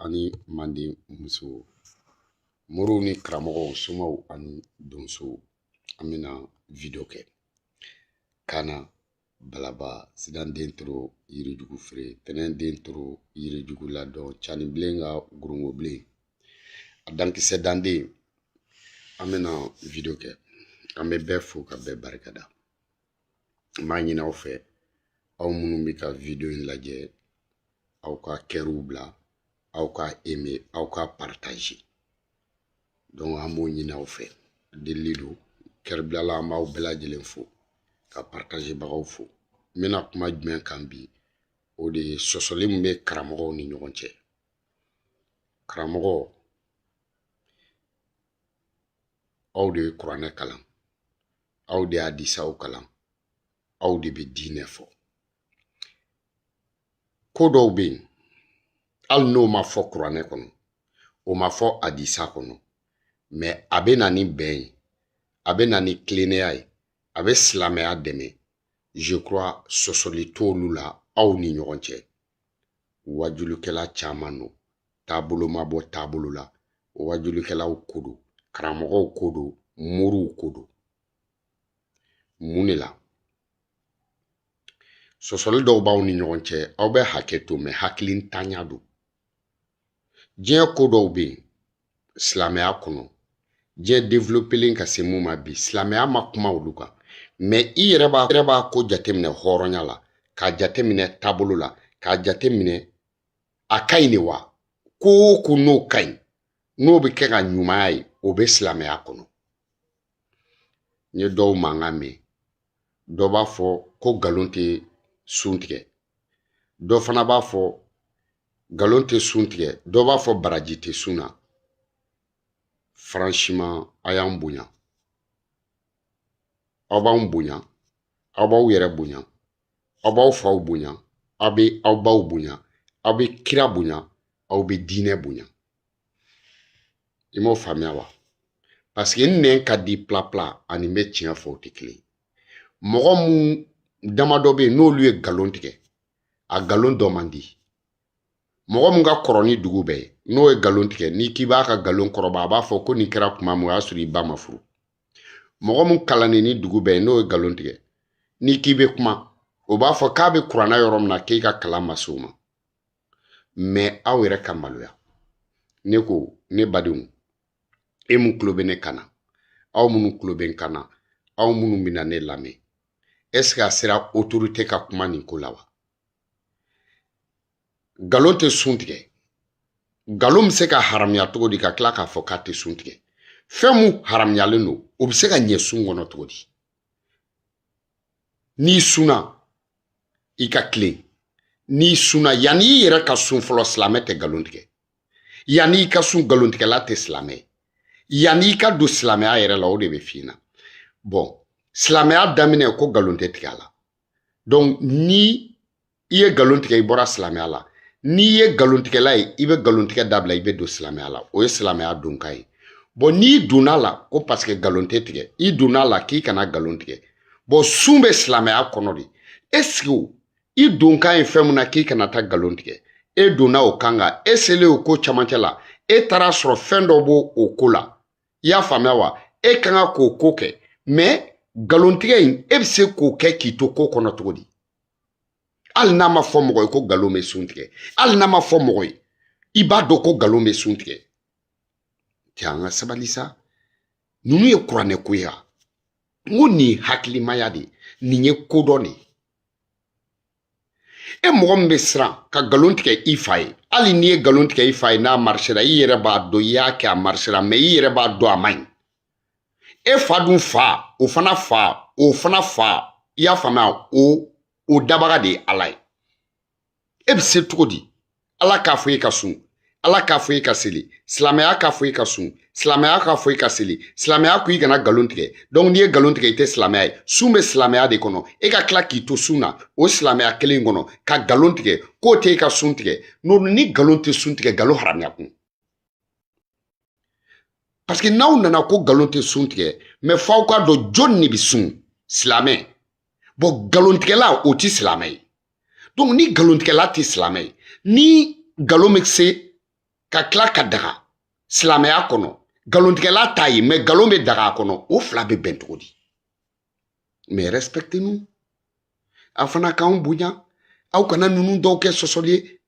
ani manden musow moriw ni karamɔgɔw somaw ani donsow an bɛna wideyo kɛ kana balaba sidan den toro yirijugu feere tɛnɛn den toro yirijugu ladɔn canibilen ka gorongobilen a dankisɛ danden an bɛna wideyo kɛ an bɛ bɛɛ fo ka bɛɛ barikada n b'a ɲini aw fɛ aw minnu bɛ ka video in lajɛ aw ka kɛriw bila aw ka aimer aw ka partager donc an b'o ɲini aw fɛ delili don kɛribilala an b'aw bɛɛ lajɛlen fo ka partager bagaw fo n bɛna kuma jumɛn kan bi o de ye sɔsɔli min bɛ karamɔgɔw ni ɲɔgɔn cɛ karamɔgɔ aw de ye kuranɛ kalan aw de ye hadisaw kalan aw de bɛ diinɛ fɔ ko dɔw bɛ yen hali n'o ma fɔ kuranɛ kɔnɔ o ma fɔ hadisa kɔnɔ mais a bɛ na ni bɛn ye a bɛ na ni tilennenya ye a bɛ silamɛya dɛmɛ je crois sɔsɔli t'olu la aw ni ɲɔgɔn cɛ wajulikɛla caman don taabolo ma bɔ taabolo la wajulikɛlaw ko don karamɔgɔw ko don moriw ko don mun de la sɔsɔli dɔw b'aw ni ɲɔgɔn cɛ aw bɛ hakɛ to mais hakilintanya don diɲɛ ko dɔw bɛ yen silamɛya kɔnɔ diɲɛ développelen ka se mun ma bi silamɛya ma kuma olu kan mais i yɛrɛ yɛrɛ b'a ko jateminɛ hɔrɔnya la k'a jateminɛ taabolo la k'a jateminɛ a ka ɲi de wa ko o ko n'o ka ɲi n'o bɛ kɛ ka ɲumanya ye o bɛ silamɛya kɔnɔ n ye dɔw mankan mɛn dɔ b'a fɔ ko nkalon tɛ sun tigɛ dɔ fana b'a fɔ nkalon tɛ sun tigɛ dɔ b'a fɔ baraji tɛ sun na franchement a y'an bonya aw b'anw bonya aw b'aw yɛrɛ bonya aw b'aw faw bonya aw bɛ aw baw bonya aw bɛ kira bonya aw bɛ diinɛ bonya i m'o faamuya wa parce que n nɛn ka di pilapila ani n bɛ tiɲɛ fɔ o tɛ kelen ye mɔgɔ mun damadɔ bɛ yen n'olu ye nkalon tigɛ a nkalon dɔn man di mɔgɔ min ka kɔrɔ ni dugu bɛɛ ye n'o ye nkalon tigɛ n'i k'i b'a ka nkalon kɔrɔba a b'a fɔ ko nin kɛra kuma min o y'a sɔrɔ i ba ma furu mɔgɔ min kalannen ni dugu bɛɛ ye n'o ye nkalon tigɛ n'i k'i bɛ kuma o b'a fɔ k'a bɛ kuranɛ yɔrɔ min na k'e ka kalan ma s'o ma mɛ aw yɛrɛ ka maloya ne ko ne badenw e min tulo bɛ ne kan na aw minnu tulo bɛ n kan na aw minnu bɛna ne lamɛn ɛseke a sera otorite ka kuma nin ko la wa nkalon tɛ sun tigɛ nkalon bɛ se ka haramuya cogo di ka tila k'a fɔ k'a tɛ sun tigɛ fɛn min haramuyalen don o bɛ se ka ɲɛ sun kɔnɔ cogo di n'i sunna i ka tilen n'i sunna yanni i yɛrɛ ka sun fɔlɔ silamɛ tɛ nkalon tigɛ yanni i ka sun nkalontigɛla tɛ silamɛ ye yanni i ka don silamɛya yɛrɛ la o de bɛ f'i ɲɛna bɔn silamɛya daminɛ ko nkalon tɛ tigɛ a la donc ni i ye nkalon tigɛ i bɔra silamɛya la n'i ye nkalontigɛla ye i bɛ nkalontigɛ dabila i bɛ don silamɛya la o ye silamɛya donkan ye bɔn n'i donna a la ko paseke nkalon tɛ tigɛ i donna a la k'i kana nkalon tigɛ bɔn sun bɛ silamɛya kɔnɔ de ɛseke i donkan ye fɛn min na k'i kana taa nkalon tigɛ e donna o kan kan e selen o ko camancɛ la e taara a sɔrɔ fɛn dɔ b'o ko la i y'a faamuya wa e kan ka k'o ko kɛ mɛ nkalontigɛ in e bɛ se k'o kɛ k'i to ko kɔnɔ cogo di hali n'a ma fɔ mɔgɔ ye ko nkalon bɛ sun tigɛ hali n'a ma fɔ mɔgɔ ye i b'a dɔn ko nkalon bɛ sun tigɛ cɛ an ka sabali sa ninnu ye kuranɛ ko ye wa n ko nin ye hakilimaya de ye nin ye kodɔn de ye e mɔgɔ min bɛ siran ka nkalon tigɛ i fa ye hali n'i ye nkalon tigɛ i fa ye n'a marisera i yɛrɛ b'a dɔn i y'a kɛ a marisera mɛ i yɛrɛ b'a dɔn a man ɲi e fa dun fa o fana fa o fana fa i y'a faamuya o o dabaga de ye ala ye e bɛ se cogo di ala k'a fɔ e ka sun ala k'a fɔ e ka seli silamɛya k'a fɔ e ka sun silamɛya k'a fɔ e ka seli silamɛya ko i kana nkalon tigɛ dɔnku n'i ye nkalon tigɛ i tɛ silamɛya ye sun bɛ silamɛya de kɔnɔ e ka tila k'i to sun na o silamɛya kelen kɔnɔ ka nkalon tigɛ k'o tɛ e ka sun tigɛ nɔn ni nkalon tɛ sun tigɛ nkalon haramuyakun parce que n'aw nana ko nkalon tɛ sun tigɛ mɛ f'aw k'a dɔn jɔni de bɛ sun silamɛ bɔn nkalontigɛla o tɛ silamɛ ye donc ni nkalontigɛla tɛ silamɛ ye ni nkalon bɛ se ka tila ka daga silamɛya kɔnɔ nkalontigɛla t'a ye mɛ nkalon bɛ daga a kɔnɔ o fila bɛ bɛn cogo di mais respectez nous a fana k'anw bonya aw kana ninnu dɔw kɛ sɔsɔli ye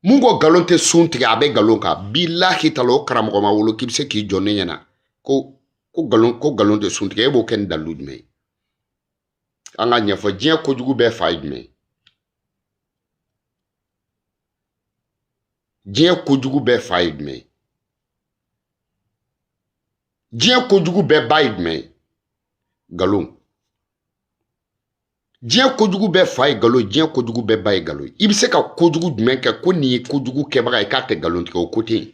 mun ko nkalon tɛ sun tigɛ a bɛ nkalon kan bilahi tala o karamɔgɔ ma wolo k'i bɛ se k'i jɔ ne ɲɛna ko ko nkalon ko nkalon tɛ sun tigɛ e b'o kɛ ni dalilu jumɛn ye an k'a ɲɛfɔ diɲɛ kojugu bɛɛ fa ye jumɛn ye diɲɛ kojugu bɛɛ fa ye jumɛn ye diɲɛ kojugu bɛɛ ba ye jumɛn ye nkalon diɲɛ kojugu bɛɛ fa ye nkalon ye diɲɛ kojugu bɛɛ ba ye nkalon ye i bɛ se ka kojugu jumɛn kɛ ko nin ye kojugu kɛbaga ye k'a tɛ nkalon tigɛ o ko tɛ yen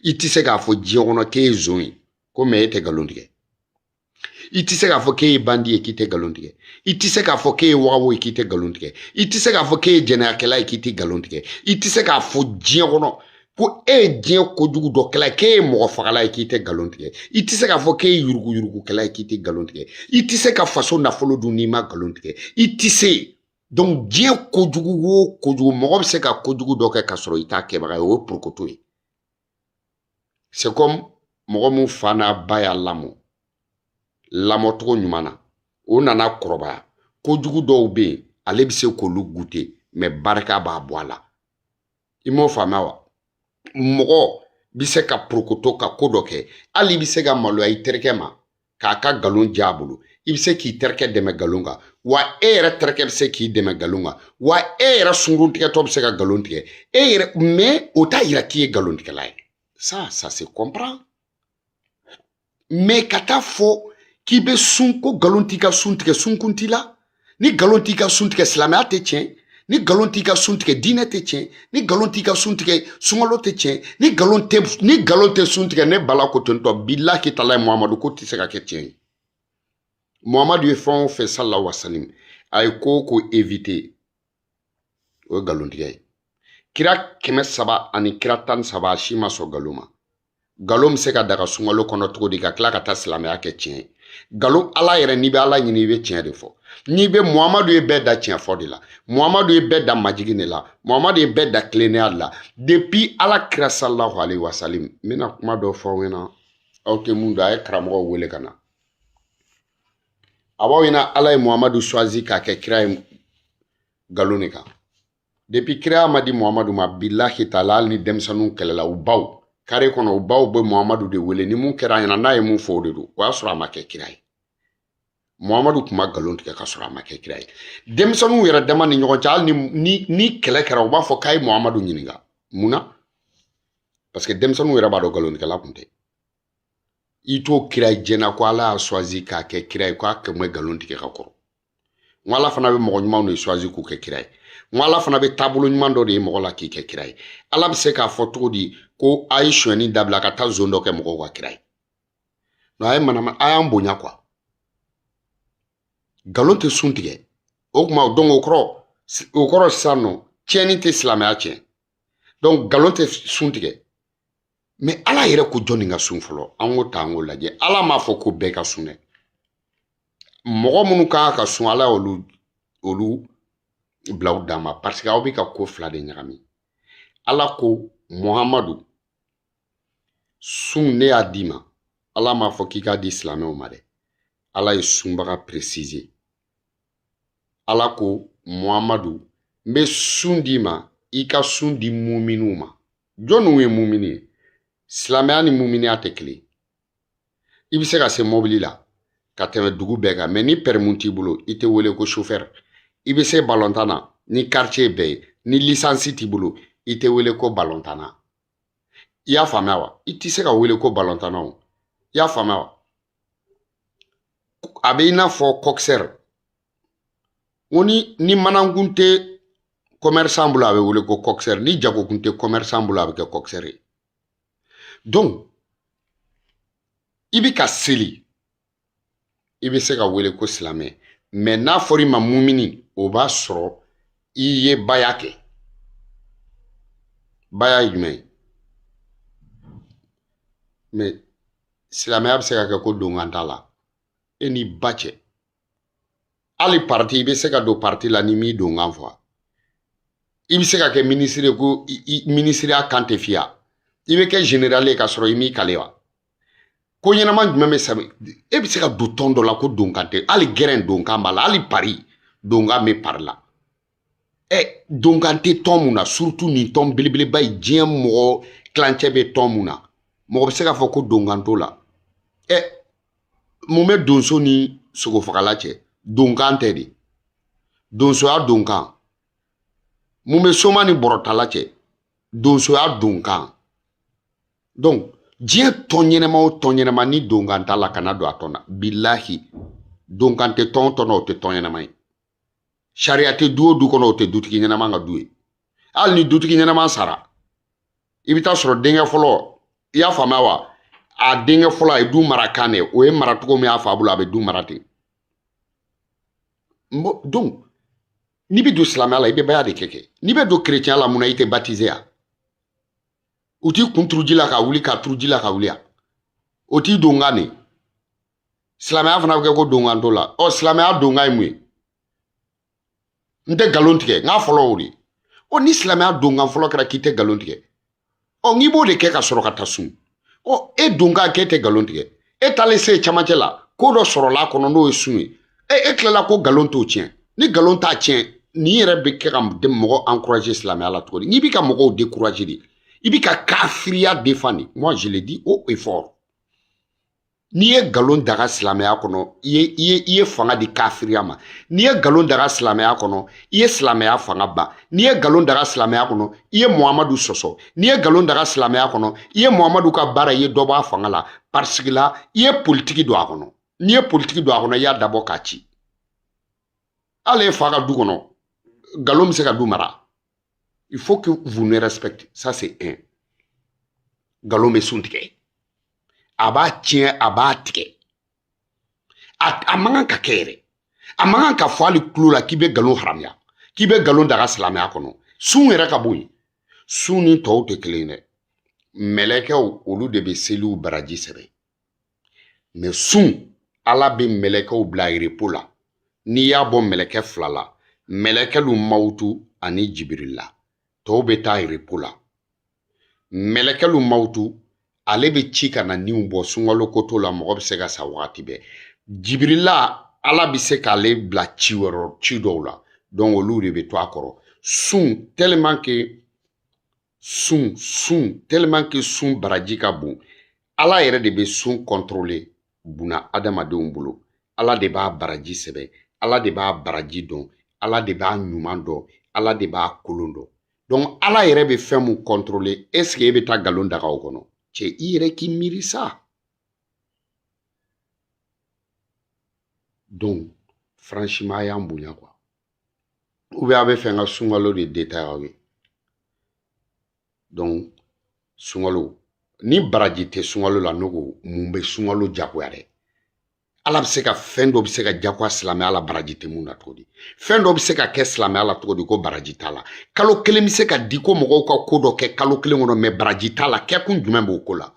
i tɛ se k'a fɔ diɲɛ kɔnɔ k'e ye zon ye ko mais e tɛ nkalon tigɛ i tɛ se k'a fɔ k'e ye bandi ye k'i tɛ nkalon tigɛ i tɛ se k'a fɔ k'e ye wagawo ye k'i tɛ nkalon tigɛ i tɛ se k'a fɔ k'e ye jɛnɛyakɛla ye k'i tɛ nkalon tigɛ i tɛ se k'a fɔ diɲɛ kɔnɔ ko e ye diɲɛ kojugu dɔ kɛla k'e ye mɔgɔ fagala ye k'i tɛ nkalon tigɛ i tɛ se k'a fɔ k'e ye yuruguyurugukɛla ye k'i tɛ nkalon tigɛ i tɛ se ka faso nafolo dun n'i ma nkalon tigɛ i tɛ se donc diɲɛ kojugu o kojugu mɔgɔ bɛ se ka kojugu dɔ kɛ k'a sɔrɔ i t'a kɛbaga ye o ye porokoto ye c'est comme mɔgɔ min fa n'a ba y'a lamɔ lamɔcogo ɲuman na o nana kɔrɔbaya kojugu dɔw bɛ yen ale bɛ se k'olu gute mais barika b'a bɔ a la i m'o faamuya wa mɔgɔ bɛ se ka porokoto ka ko dɔ kɛ hali i bɛ se ka maloya i terikɛ ma k'a ka nkalon ja a bolo i bɛ se k'i terikɛ dɛmɛ nkalon kan wa e yɛrɛ terikɛ bɛ se k'i dɛmɛ nkalon kan wa e yɛrɛ sungurun tigɛtɔ bɛ se ka nkalon tigɛ e yɛrɛ mais o t'a yira k'i ye nkalon tigɛla ye ça ça se comprend mais ka taa fɔ k'i bɛ sun ko nkalon t'i ka sun tigɛ sunkun t'i la ni nkalon t'i ka sun tigɛ silamɛya tɛ tiɲɛ ni nkalon t'i ka sun tigɛ diinɛ tɛ tiɲɛ ni nkalon t'i ka sun tigɛ sunkalo tɛ tiɲɛ ni nkalon tɛ sun tigɛ ne bala ko tentɔ bilahi taala ye muhamadu ko tɛ se ka kɛ tiɲɛ ye muhamadu ye fɛn o fɛn salahu wasalim a ye ko o ko éviter o ye nkalontigɛ ye kira kɛmɛ saba ani kira tan ni saba a si ma sɔn nkalon ma nkalon bɛ se ka daga sunkalo kɔnɔ cogo di ka tila ka taa silamɛya kɛ tiɲɛ ye nkalon ala yɛrɛ n'i bɛ ala ɲini i bɛ tiɲɛ de fɔ n'i bɛ muhamadu ye bɛɛ da tiɲɛ fɔ de la muhamadu ye bɛɛ da majigin de la muhamadu ye bɛɛ da tilennenya de la depuis ala kira salahu alayhi wa salim n bɛna kuma dɔ fɔ aw ɲɛna aw tɛ mun dɔn a ye karamɔgɔw wele ka na a b'aw ɲɛna ala ye muhamadu choisi k'a kɛ kira ye nkalon de kan depuis kiraya ma di muhamadu ma bilahi taala hali ni denmisɛnninw kɛlɛla u baw kare kɔnɔ u baw bɛ muhamadu de wele ni mun kɛra a ɲɛna n'a ye mun fɔ o de don o y'a sɔrɔ a ma kɛ kira ye muhamadu tun ma nkalon tigɛ ka sɔrɔ a ma kɛ kira ye denmisɛnninw yɛrɛ dama ni ɲɔgɔn cɛ hali ni ni kɛlɛ kɛra u b'a fɔ k'a ye muhamadu ɲininka mun na parce que denmisɛnninw yɛrɛ b'a dɔn nkalontigɛla tun tɛ i t'o kira ye i ɲɛna ko ala y'a choisi k'a kɛ kira ye ko a tun bɛ nkalon tigɛ ka kɔrɔ n ko ala fana bɛ mɔgɔ ɲumanw de choisi k'u kɛ kira ye n ko ala fana bɛ taabolo ɲuman dɔ de ye mɔgɔ la k'i kɛ kira ye ala bɛ se k'a fɔ cogo di ko a ye sonyɛni dabila ka taa zon dɔ kɛ mɔgɔw ka kira ye nka a ye malo an ma a y'an bonya quoi nkalon tɛ sun tigɛ o kuma donc o kɔrɔ sisan nɔ tiɲɛni tɛ silamɛya tiɲɛ donc nkalon tɛ sun tigɛ mais ala yɛrɛ ko jɔnni ka sun fɔlɔ an k'o ta an k'o lajɛ ala m'a fɔ ko bɛɛ ka sun dɛ mɔgɔ minnu ka kan ka sun ala y'olu bila u dan ma parce que aw bɛ ka ko fila de ɲagami ala ko muhamadu sun ne y'a d'i ma ala m'a fɔ k'i k'a di silamɛw ma dɛ ala ye sunbaga préciser ala ko muhamadu n bɛ sun d'i ma i ka sun di muminiw ma jɔnniw ye mumini ye silamɛya ni muminiya tɛ kelen i bɛ se ka se mobili la ka tɛmɛ dugu bɛɛ kan mais ni permis t'i bolo i tɛ wele ko sofɛri i bɛ se balontan na ni quartier bɛɛ ye ni licence t'i bolo i tɛ wele ko balontanna i y'a faamuya wa i tɛ se ka wele ko balontanna o i y'a faamuya wa a bɛ i n'a fɔ coxeur n ko ni ni manankun tɛ commerçant bolo a bɛ wele ko coxeur ni jagokun tɛ commerçant bolo a bɛ kɛ coxeur ye donc i bɛ ka seli i bɛ se ka wele ko silamɛ mais n'a fɔra i ma mumini o b'a sɔrɔ i ye baya kɛ baya ye jumɛn ye mais silamɛya bɛ se ka kɛ ko donkan t'a la e n'i ba cɛ hali parti i bɛ se ka don parti la n'i m'i donkan fɔ i bɛ se ka kɛ minisiri ko minisiriya kan tɛ f'i ya i bɛ kɛ général ye k'a sɔrɔ i m'i kale wa ko ɲɛnama jumɛn bɛ sɛbɛn e bɛ se ka don tɔn dɔ la ko donkan tɛ hali gɛrɛn donkan b'a la hali pari donkan bɛ pari la ɛ donkan tɛ tɔn mun na surtout nin tɔn belebeleba ye diɲɛ mɔgɔ tilancɛ bɛ tɔn mun na mɔgɔ bɛ se k'a fɔ ko donkan t'o la ɛ mun bɛ donso ni sogofagala cɛ donkan tɛ de donsoya donkan mun bɛ soma ni bɔrɔtala cɛ donsoya donkan donc diɲɛ tɔn ɲɛnɛma o tɔn ɲɛnɛma ni donkan t'a la kana don a tɔn na bilahi donkan tɛ tɔn tɔn na o tɛ tɔn ɲɛnɛma ye sariya tɛ du o du kɔnɔ o tɛ dutigi ɲɛnama ka du ye hali ni dutigi ɲɛnama sara i bɛ taa sɔrɔ denkɛ fɔlɔ i y'a faamuya wa a denkɛ fɔlɔ a ye du mara kan de o ye mara cogo min y'a fa bolo a bɛ du mara ten donc n'i bɛ don silamɛya la i bɛ baya de kɛ kɛ n'i bɛ don kerecɛnya la mun na i tɛ batize ya u t'i kun turu ji la ka wuli ka turu ji la ka wuli ya o t'i donkan de silamɛya fana bɛ kɛ ko donkan t'o la ɔ silamɛya donkan ye mun ye n tɛ nkalon tigɛ n k'a fɔlɔ o de ye ɔ ni silamɛya donkan fɔlɔ kɛra k'i tɛ nkalon tigɛ ɔ n'i b'o de kɛ ka sɔrɔ ka taa sun ɔ e donkan k'e tɛ nkalon tigɛ e taalen se camancɛ la ko dɔ sɔrɔla a kɔnɔ n'o ye sun ye e e tilala ko nkalon t'o tiɲɛ ni nkalon t'a tiɲɛ nin yɛrɛ bɛ kɛ ka mɔgɔ encourager silamɛya la cogo di n'i bɛ ka mɔgɔw décourager de i bɛ ka kafiriya défendre moi je le dis haut et fort n'i ye nkalon daga silamɛya kɔnɔ i ye i ye i ye fanga di kafiriya ma n'i ye nkalon daga silamɛya kɔnɔ i ye silamɛya fanga ban n'i ye nkalon daga silamɛya kɔnɔ i ye muhamadu sɔsɔ n'i ye nkalon daga silamɛya kɔnɔ i ye muhamadu ka baara i ye dɔ bɔ a fanga la parce que là i ye politiki don a kɔnɔ n'i ye politiki don a kɔnɔ i y'a dabɔ k'a ci hali e fa ka du kɔnɔ nkalon bɛ se ka du mara il faut que vous nous respectez ça c'est un nkalon bɛ sun tigɛ a b'a tiɲɛ a b'a tigɛ a a man kan ka kɛ yɛrɛ a man kan ka fɔ hali tulon la k'i bɛ nkalon haramuya k'i bɛ nkalon daga silamɛya kɔnɔ sun yɛrɛ ka bɔ yen sun ni tɔw tɛ kelen ye dɛ mɛlɛkɛw olu de bɛ seliw baraji sɛbɛn mais sun ala bɛ mɛlɛkɛw bila repos la n'i y'a bɔ mɛlɛkɛ fila la mɛlɛkɛlu mawutu ani jibirila tɔw bɛ taa repos la mɛlɛkɛlu mawutu ale bɛ ci ka na niw bɔ sunkalo koto la mɔgɔ bɛ se ka sa wagati bɛɛ jibirila ala bɛ se k'ale bila ci wɛrɛ ci dɔw la donc olu de bɛ to a kɔrɔ sun tellement que sun sun tellement que sun baraji ka bon ala yɛrɛ de bɛ sun contrôler buna adamadenw bolo ala de b'a baraji sɛbɛn ala de b'a baraji dɔn ala de b'a ɲuman dɔn ala de b'a kolon dɔn donc ala yɛrɛ bɛ fɛn mun contrôler est ce que e bɛ taa nkalon daga o kɔnɔ cɛ i yɛrɛ k'i miiri sa donc franchement a y'an bonya quoi ou bien a b'a fɛ n ka sunkalo de détailler aw ye donc sunkalo ni baraji tɛ sunkalo la ne ko mun bɛ sunkalo jagoya dɛ ala bɛ se ka fɛn dɔ bɛ se ka jagoya silamɛya la baraji tɛ mun na cogo di fɛn dɔ bɛ se ka kɛ silamɛya la cogo di ko baraji t'a la kalo kelen bɛ se ka di ko mɔgɔw ka ko dɔ kɛ kalo kelen kɔnɔ mais baraji t'a la kɛkun jumɛn b'o ko la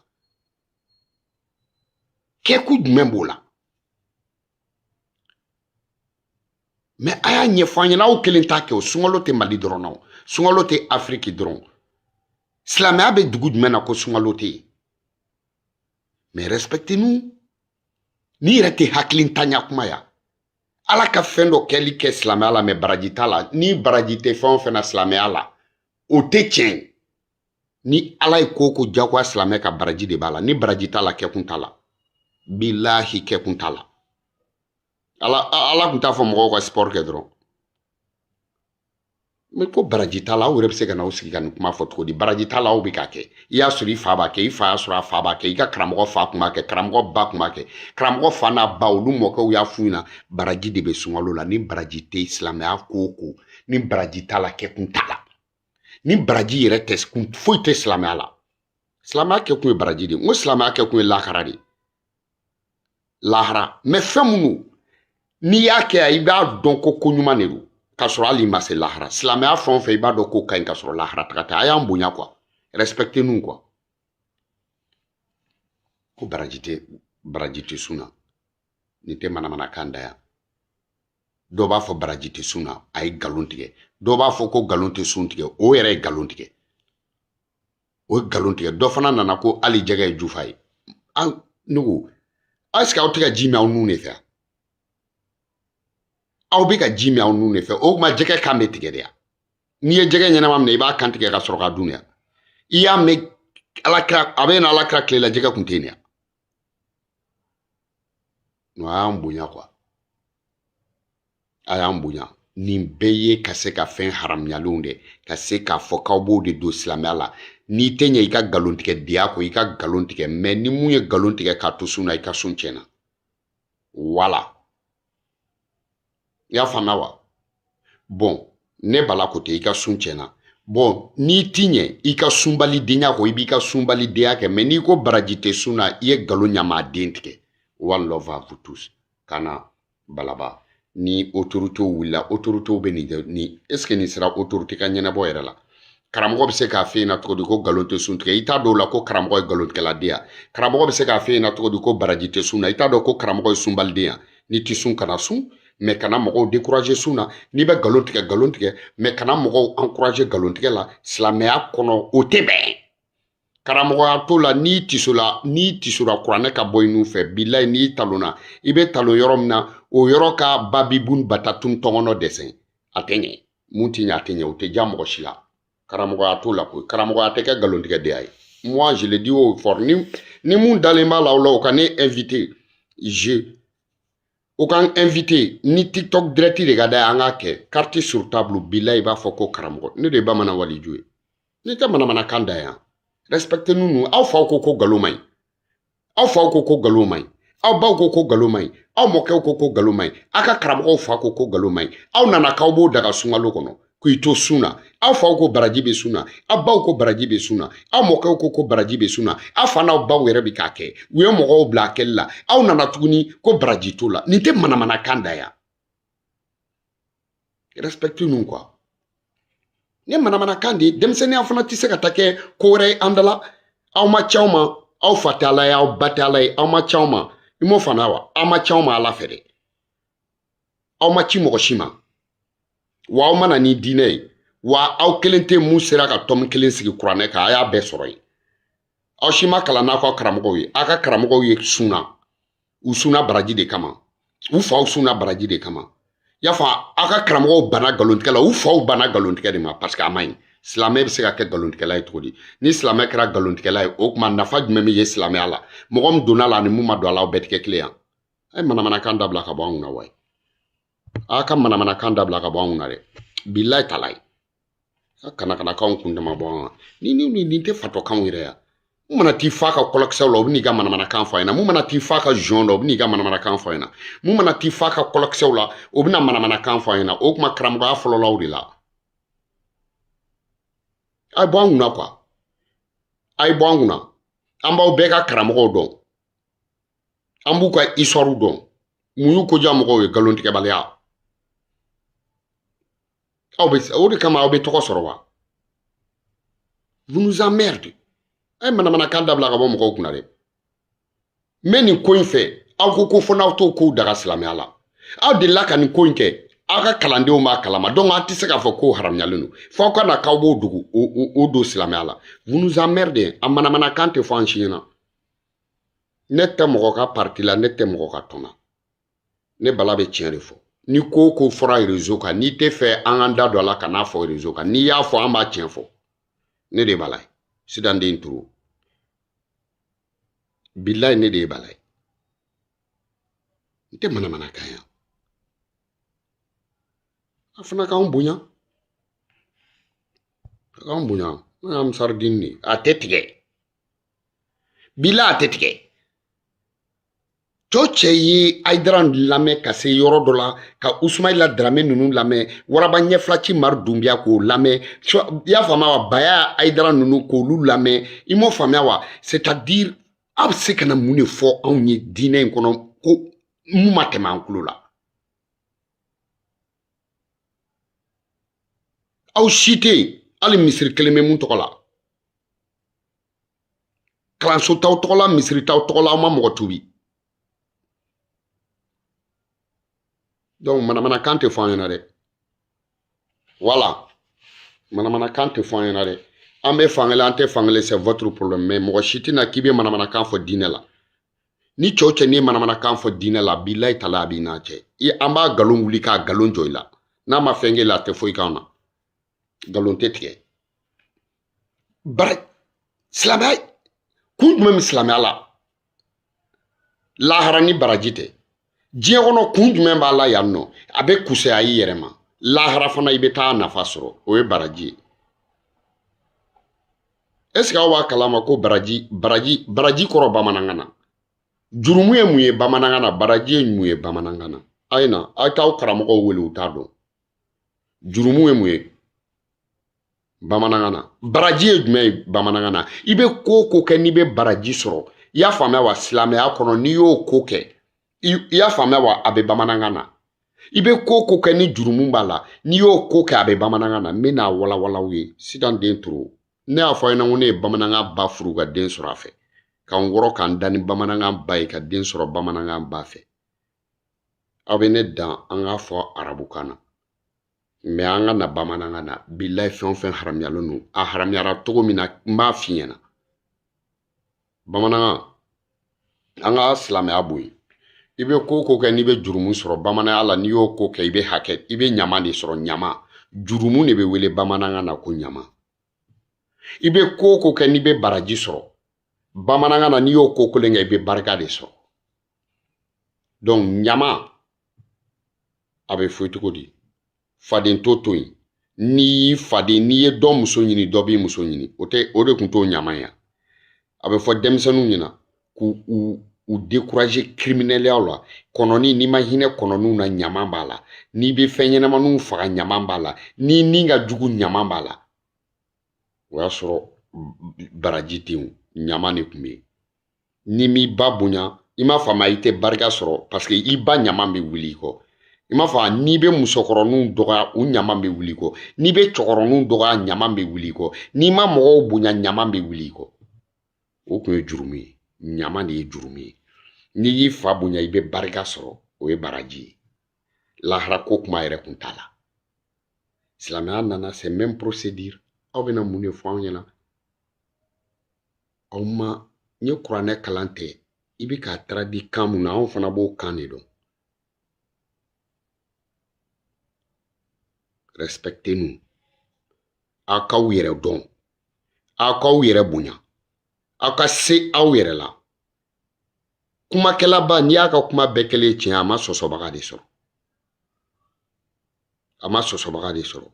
kɛkun jumɛn b'o la mais a y'a ɲɛfɔ an ɲɛna aw kelen t'a kɛ o sunkalo tɛ mali dɔrɔn na o sunkalo tɛ afiriki dɔrɔn silamɛya bɛ dugu jumɛn na ko sunkalo tɛ yen mais respectez nous nin yɛrɛ tɛ hakilintanya kuma ye wa ala ka fɛn dɔ kɛli kɛ silamɛya la mais baraji t'a la ni baraji tɛ fɛn o fɛn na silamɛya la o tɛ tiɲɛ ye ni ala ye ko ko jagoya silamɛ kan baraji de b'a la ni baraji t'a la kɛkun t'a la bilahi kɛkun t'a la ala ala tun t'a fɔ mɔgɔw ka sipɔri kɛ dɔrɔn mɛ ko baraji t'a la aw yɛrɛ bɛ se ka na aw sigi ka nin kuma fɔ cogo di baraji t'a la aw bɛ k'a kɛ i y'a sɔrɔ i fa b'a kɛ i fa y'a sɔrɔ a fa b'a kɛ i ka karamɔgɔ fa tun b'a kɛ karamɔgɔ ba tun b'a kɛ karamɔgɔ fa n'a ba olu mɔkɛw y'a f'u ɲɛna baraji de bɛ sunkalo la ni baraji tɛ silamɛya ko o ko ni baraji t'a la kɛkun t'a la ni baraji yɛrɛ tɛ kun foyi tɛ silamɛya la silamɛya kɛ kun ye baraji de ye n ko silamɛya kɛ kun ye lahara de ye lahara mɛ fɛn minnu n'i y'a kɛ yan i b'a dɔn ko ko ɲuman de don k'a sɔrɔ hali i ma se lahara silamɛya fɛn o fɛn i b'a dɔn ko ka ɲi k'a sɔrɔ lahara taga tɛ a y'an bonya quoi respectez nous quoi ko baraji tɛ baraji tɛ sun na nin tɛ manamanakan dan ya dɔw b'a fɔ baraji tɛ sun na a ye nkalon tigɛ dɔw b'a fɔ ko nkalon tɛ sun tigɛ o yɛrɛ ye nkalon tigɛ o ye nkalon tigɛ dɔ fana nana ko hali jɛgɛ ye jufa ye an ne ko est ce que aw tɛ ka ji min aw nun de fɛ aw bɛ ka ji min aw nun de fɛ o tuma jɛgɛ kan bɛ tigɛ de ya n'i ye jɛgɛ ɲɛnama minɛ i b'a kan tigɛ ka sɔrɔ k'a dun ya i y'a mɛn ala kira a bɛ na ala kira tile la jɛgɛ kun tɛ yen ya a y'an bonya quoi a y'an bonya nin bɛɛ ye ka se ka fɛn haramuyalenw de ka se k'a fɔ k'aw b'o de don silamɛya la n'i tɛ ɲɛ i ka nkalontigɛdenya kɔ i ka nkalon tigɛ mɛ ni mun ye nkalon tigɛ k'a to sun na i ka sun tiɲɛna wala i y'a faamuya wa bɔn ne bala ko tɛ i ka sun tiɲɛna bɔn n'i ti ɲɛ i ka sunbalidenya kɔ i b'i ka sunbalidenya kɛ mɛ n'i ko baraji tɛ sun na i ye galon ɲamaden tigɛ one love à vous tous ka na balaba ni autorité wulila autorité bɛ nin kɛ ni est ce que nin sera autorité ka ɲɛnabɔ yɛrɛ la karamɔgɔ bɛ se k'a f'e ɲɛna cogo di ko nkalon tɛ sun tigɛ i t'a dɔn o la ko karamɔgɔ ye nkalontigɛladen ya karamɔgɔ bɛ se k'a f'e ɲɛna cogo di ko baraji tɛ sun na i t'a dɔn ko karamɔgɔ ye sunbaliden ya n'i tɛ sun kana sun mɛ kana mɔgɔw dekuraze sun na n'i bɛ nkalon tigɛ nkalon tigɛ mɛ kana mɔgɔw ankuraze nkalontigɛ la silamɛya kɔnɔ o tɛ bɛn karamɔgɔya t'o la n'i tisora kuranɛ ka bɔ i nun fɛ bilayi n'i talonna i bɛ talon yɔrɔ min na o yɔrɔ ka babibun batatun tɔngɔnɔ dɛsɛ a tɛ ɲɛ mun ti ɲɛ a tɛ ɲɛ o tɛ diya mɔgɔ si la karamɔgɔya t'o la koyi karamɔgɔya tɛ kɛ nkalontigɛdenya ye moi je le dis haut et fort ni ni mun dalen b'a la o la o ka ne invité je o k'an invité ni tiktok direct de ka d'a ye an k'a kɛ carte sur table bilayi i b'a fɔ ko karamɔgɔ ne de ye bamanan waliju ye nin tɛ manamanakan da yan respectez nous aw faw ko ko nkalon man ɲi aw faw ko ko nkalon man ɲi aw baw ko ko nkalon man ɲi aw mɔkɛw ko ko nkalon man ɲi aw ka karamɔgɔw fa ko ko nkalon man ɲi aw nana k'aw b'o daga sunkalo kɔnɔ k'i to sun na aw faw ko baraji bɛ sun na aw baw ko baraji bɛ sun na aw mɔkɛw ko ko baraji bɛ sun na aw fa n'aw baw yɛrɛ bɛ k'a kɛ u ye mɔgɔw bila a kɛli la aw nana tuguni ko baraji t'o la nin tɛ manamanakan da yan respectez nous quoi nin manamanakan de ye denmisɛnninya fana tɛ se ka taa kɛ ko wɛrɛ ye an da la aw ma ci anw ma aw fa tɛ ala ye aw ba tɛ ala ye aw ma ci anw ma i m'o faamu wa aw ma ci anw ma ala fɛ dɛ aw ma ci mɔgɔ si ma wa aw ma na ni diinɛ ye wa aw kelen tɛ mun sera ka tɔmi kelen sigi kuranɛ kan a y'a bɛɛ sɔrɔ yen aw si ma kalan n'aw ka karamɔgɔw ye aw ka karamɔgɔw ye sun na u sunna baraji de kama u faw sunna baraji de kama y'a fɔ aw ka karamɔgɔw banna nkalontigɛ la u faw banna nkalontigɛ de ma parce que a man ɲi silamɛ bɛ se ka kɛ nkalontigɛla ye cogo di ni silamɛ kɛra nkalontigɛla ye o tuma nafa jumɛn bɛ ye silamɛya la mɔgɔ min donna a la ani mun ma don a la aw bɛɛ tɛ kɛ kelen yan a ye manamanakan dabila ka bɔ anw na wayi aw ka manamanakan dabila ka bɔ anw na dɛ bilayi talayi ka kana kana kanw kun dama bɔ an ni ni ni nin tɛ fatɔkanw yɛrɛ ya mun mana t'i fa ka kɔlɔkisɛw la o bɛ n'i ka manamanakan fɔ a ɲɛna mun mana t'i fa ka zɔn la o bɛ n'i ka manamanakan fɔ a ɲɛna mun mana t'i fa ka kɔlɔkisɛw la o bɛna manamanakan fɔ a ɲɛna o kuma karamɔgɔya fɔlɔlaw de la a ye bɔ an kunna quoi a ye bɔ an kunna an b'aw bɛɛ ka karamɔgɔw dɔn an b'u ka histoires dɔn mun y'u ko diya mɔgɔw ye nkalontigɛbaliya aw bɛ o de kama aw bɛ tɔgɔ sɔrɔ wa vous nous emmerdez a ye manamanakan dabila ka bɔ mɔgɔw kunna dɛ n bɛ nin ko in fɛ aw ko ko fo n'aw t'o kow daga silamɛya la aw delila ka nin ko in kɛ aw ka kalandenw b'a kalama donc aw tɛ se k'a fɔ k'o haramuyalen don fo aw ka na k'aw b'o dogo o don silamɛya la vous nous emmerdez a manamanakan tɛ fɔ an si ɲɛna ne tɛ mɔgɔ ka parti la ne tɛ mɔgɔ ka tɔn na ne bala bɛ tiɲɛ de fɔ ni ko o ko fɔra réseau kan n'i tɛ fɛ an k'an da don a la kan'a fɔ réseau kan n'i y'a fɔ an b'a tiɲɛ fɔ ne de bala ye sidanden turu bilayi ne de ye bala ye n tɛ manamana kan yan a fana k'an bonya a k'an bonya n'o y'an saridini de ye a tɛ tigɛ bila a tɛ tigɛ cɔ cɛ ye ayidara lamɛn ka se yɔrɔ dɔ la ka usumayila darame ninnu lamɛn waraba ɲɛfilaci mari dunbiya k'o lamɛn i y'a faamuya wa baya ayidara ninnu k'olu lamɛn i m'o faamuya wa c'est à dire aw bɛ se ka na mun de fɔ anw ye diinɛ in kɔnɔ ko mun ma tɛmɛ an tulo la aw si tɛ yen hali misiri kelen bɛ mun tɔgɔ la kalanso t'aw tɔgɔ la misiri t'aw tɔgɔ la aw ma mɔgɔ tubi donc manamanakan tɛ fɔ an ɲɛna dɛ voilà manamanakan tɛ fɔ an ɲɛna dɛ an bɛ fankelen an tɛ fankelen c'est votre problème mais mɔgɔ si tɛ na k'i bɛ manamanakan fɔ diinɛ la ni cɔ cɛ n'i ye manamanakan fɔ diinɛ la bilayi tala a b'i n'an cɛ i an b'a nkalon wuli k'a nkalon jɔ i la n'a ma fɛn k'e la a tɛ foyi k'an na nkalon tɛ tigɛ bari silamɛya kun jumɛn bɛ silamɛya la lahara ni baraji tɛ diɲɛ kɔnɔ kun jumɛn b'a la yan nɔ a bɛ kusaya i yɛrɛ ma lahara fana i bɛ taa nafa sɔrɔ o ye baraji ye est ce que aw b'a kalama ko baraji baraji baraji kɔrɔ bamanankan na jurumu ye mun ye bamanankan na baraji ye mun ye bamanankan na a ye na aw t'aw karamɔgɔw wele u t'a dɔn jurumu ye mun ye bamanankan na baraji ye jumɛn ye bamanankan na i bɛ ko o ko kɛ n'i bɛ baraji sɔrɔ i y'a faamuya wa silamɛya kɔnɔ n'i y'o ko kɛ i y'a faamuya wa a bɛ bamanankan na i bɛ ko o ko kɛ ni jurumu b'a la n'i y'o ko kɛ a bɛ bamanankan na n bɛ n'a walawala aw ye sitan den toro ne y'a fɔ aw ɲɛna ko ne ye bamanankan ba furu ka den sɔrɔ a fɛ ka n wɔrɔ ka n da ni bamanankan ba ye ka den sɔrɔ bamanankan ba fɛ aw bɛ ne dan an k'a fɔ arabukan na mais an ka na bamanankan na bilayi fɛn o fɛn haramuyalen don a haramuyara cogo min na n b'a f'i ɲɛna bamanankan an ka silamɛya bɔ yen i bɛ ko o ko kɛ n'i bɛ jurumu sɔrɔ bamananya la n'i y'o ko kɛ i bɛ hakɛ i bɛ ɲama de sɔrɔ ɲama jurumu de bɛ wele bamanankan na ko ɲama i bɛ ko o ko kɛ n'i bɛ baraji sɔrɔ bamanankan na n'i y'o ko kelen kɛ i bɛ barika de sɔrɔ donc ɲama a bɛ fɔ cogo di faden to to yen n'i y'i faden n'i ye dɔ muso ɲini dɔ b'i muso ɲini o tɛ o de tun t'o ɲama ye a bɛ fɔ denmisɛnninw ɲɛna k'u u u décourager kiriminɛliyaw la kɔnɔni n'i ma hinɛ kɔnɔniw na ɲama b'a la n'i bɛ fɛn ɲɛnamaniw faga ɲama b'a la n'i ni ka jugu ɲama b'a la o y'a sɔrɔ baraji tɛ yen ɲama de tun bɛ yen n'i m'i ba bonya i m'a faamu i tɛ barika sɔrɔ paseke i ba ɲama bɛ wuli i kɔ i m'a faamu n'i bɛ musokɔrɔninw dɔgɔya u ɲama bɛ wuli i kɔ n'i bɛ cɛkɔrɔninw dɔgɔya ɲama bɛ wuli i kɔ n'i ma mɔgɔw bonya ɲama bɛ wuli i kɔ o tun ye jurumu ye ɲama de ye jurumu ye n'i y'i fa bonya i bɛ barika sɔrɔ o ye baraji ye lahara ko kuma yɛrɛ kun t'a la silamɛya nana c'est même procédure aw bɛna mun de fɔ anw ɲɛna aw ma n ye kuranɛ kalan tɛ i bɛ k'a traduit kan mun na anw fana b'o kan de dɔn respectez nous aw k'aw yɛrɛ dɔn aw k'aw yɛrɛ bonya aw ka se aw yɛrɛ la kumakɛlaba n'i y'a ka kuma bɛɛ kɛlen tiɲɛ a ma sɔsɔbaga de sɔrɔ a ma sɔsɔbaga de sɔrɔ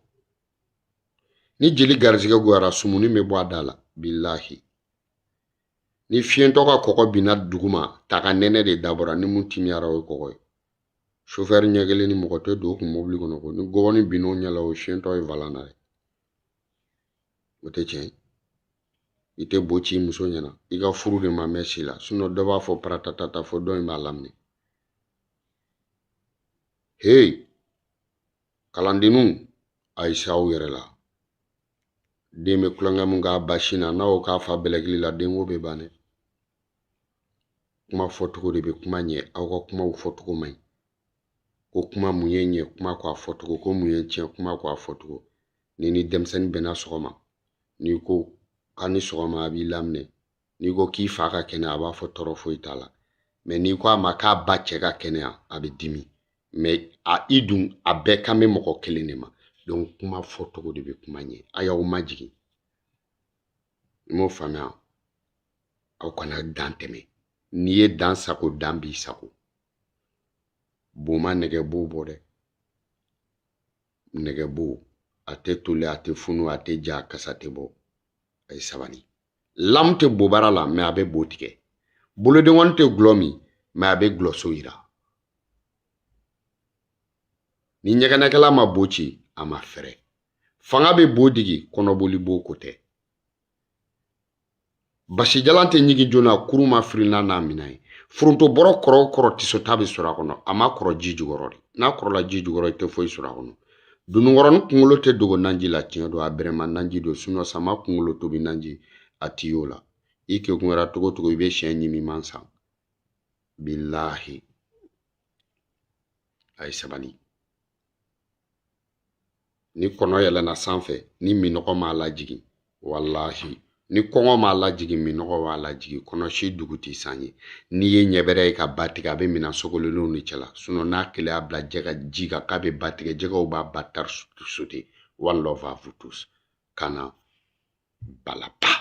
ni jeli garijɛgɛ goyara sumuni bɛ bɔ a da la bilahi ni fiɲɛtɔ ka kɔgɔ binna duguma ta k'a nɛnɛ de dabɔra ni mun timiyara o ye kɔgɔ ye sofɛri ɲɛkelennin mɔgɔ tɛ don o kun mobili kɔnɔ ko ni gɔbɔni binna o ɲɛ la o fiɲɛtɔ ye valan na ye o tɛ tiɲɛ ye i tɛ bo ci i muso ɲɛna i ka furu de ma mɛn si la dɔ b'a fɔ paratatata fo dɔ in b'a laminɛ heyi kalandenninw a ye se aw yɛrɛ la den bɛ tulonkɛ mun k'a ba sin na n'a y'o k'a fa bɛlɛkili la denko bɛ ban dɛ kuma fɔcogo de bɛ kuma ɲɛ aw ka kumaw fɔcogo man ɲi ko kuma mun y'i ɲɛ kuma ko a fɔcogo ko mun y'i tiɲɛ kuma ko a fɔcogo n'i ni denmisɛnnin bɛnna sɔgɔma n'i ko k'a ni sɔgɔma a b'i laminɛ n'i ko k'i fa ka kɛnɛ a b'a fɔ tɔɔrɔ foyi t'a la mɛ n'i ko a ma k'a ba cɛ ka kɛnɛya a bɛ dimi mɛ i dun a bɛɛ kan bɛ mɔgɔ kelen de ma donc kuma fɔ cogo de bɛ kuma ɲɛ a y'aw majigin i m'o faamuya aw kana dan tɛmɛ n'i ye dan sago dan b'i sago bo ma nɛgɛbo bɔ dɛ nɛgɛbo a tɛ toli a tɛ funu a tɛ ja a kasa tɛ bɔ a ye sabali lamu tɛ bobara la mɛ a bɛ bo tigɛ bolodenkɔni tɛ gulɔ min mɛ a bɛ gulɔso yira ni ɲɛgɛnɛkɛla ma bo ci a ma fɛrɛ fanga bɛ bo digi kɔnɔboli bo ko tɛ basijalan tɛ ɲigin joona kurun ma firinna n'a minɛ ye foronto bɔrɔ kɔrɔ o kɔrɔ tisota bɛ sɔrɔ a kɔnɔ a ma kɔrɔ ji jukɔrɔ dɛ n'a kɔrɔla ji jukɔrɔ i tɛ foyi sɔrɔ a kɔnɔ Dununkɔrɔnin kunkolo tɛ dogo naji la tiɲɛ don a bɛrɛma naji don sinon sama kunkolo tobi naji a tɛ y'o la i kegunyara cogo cogo i bɛ syɛ ɲimima san bilahi a ye sabali ni kɔnɔ yɛlɛna sanfɛ ni minɔgɔ m'a lajigin walahi ni kɔngɔ m'a lajigin minnɔgɔ b'a lajigin kɔnɔ si dugu tɛ san ye n'i ye ɲɛbɛrɛ ye ka ba tigɛ a bɛ minan sogolonnenw de cɛla sinɔn n'a kelen y'a bila jɛgɛ ji kan k'a bɛ ba tigɛ jɛgɛw b'a batari sote one love à vous tous kana balaba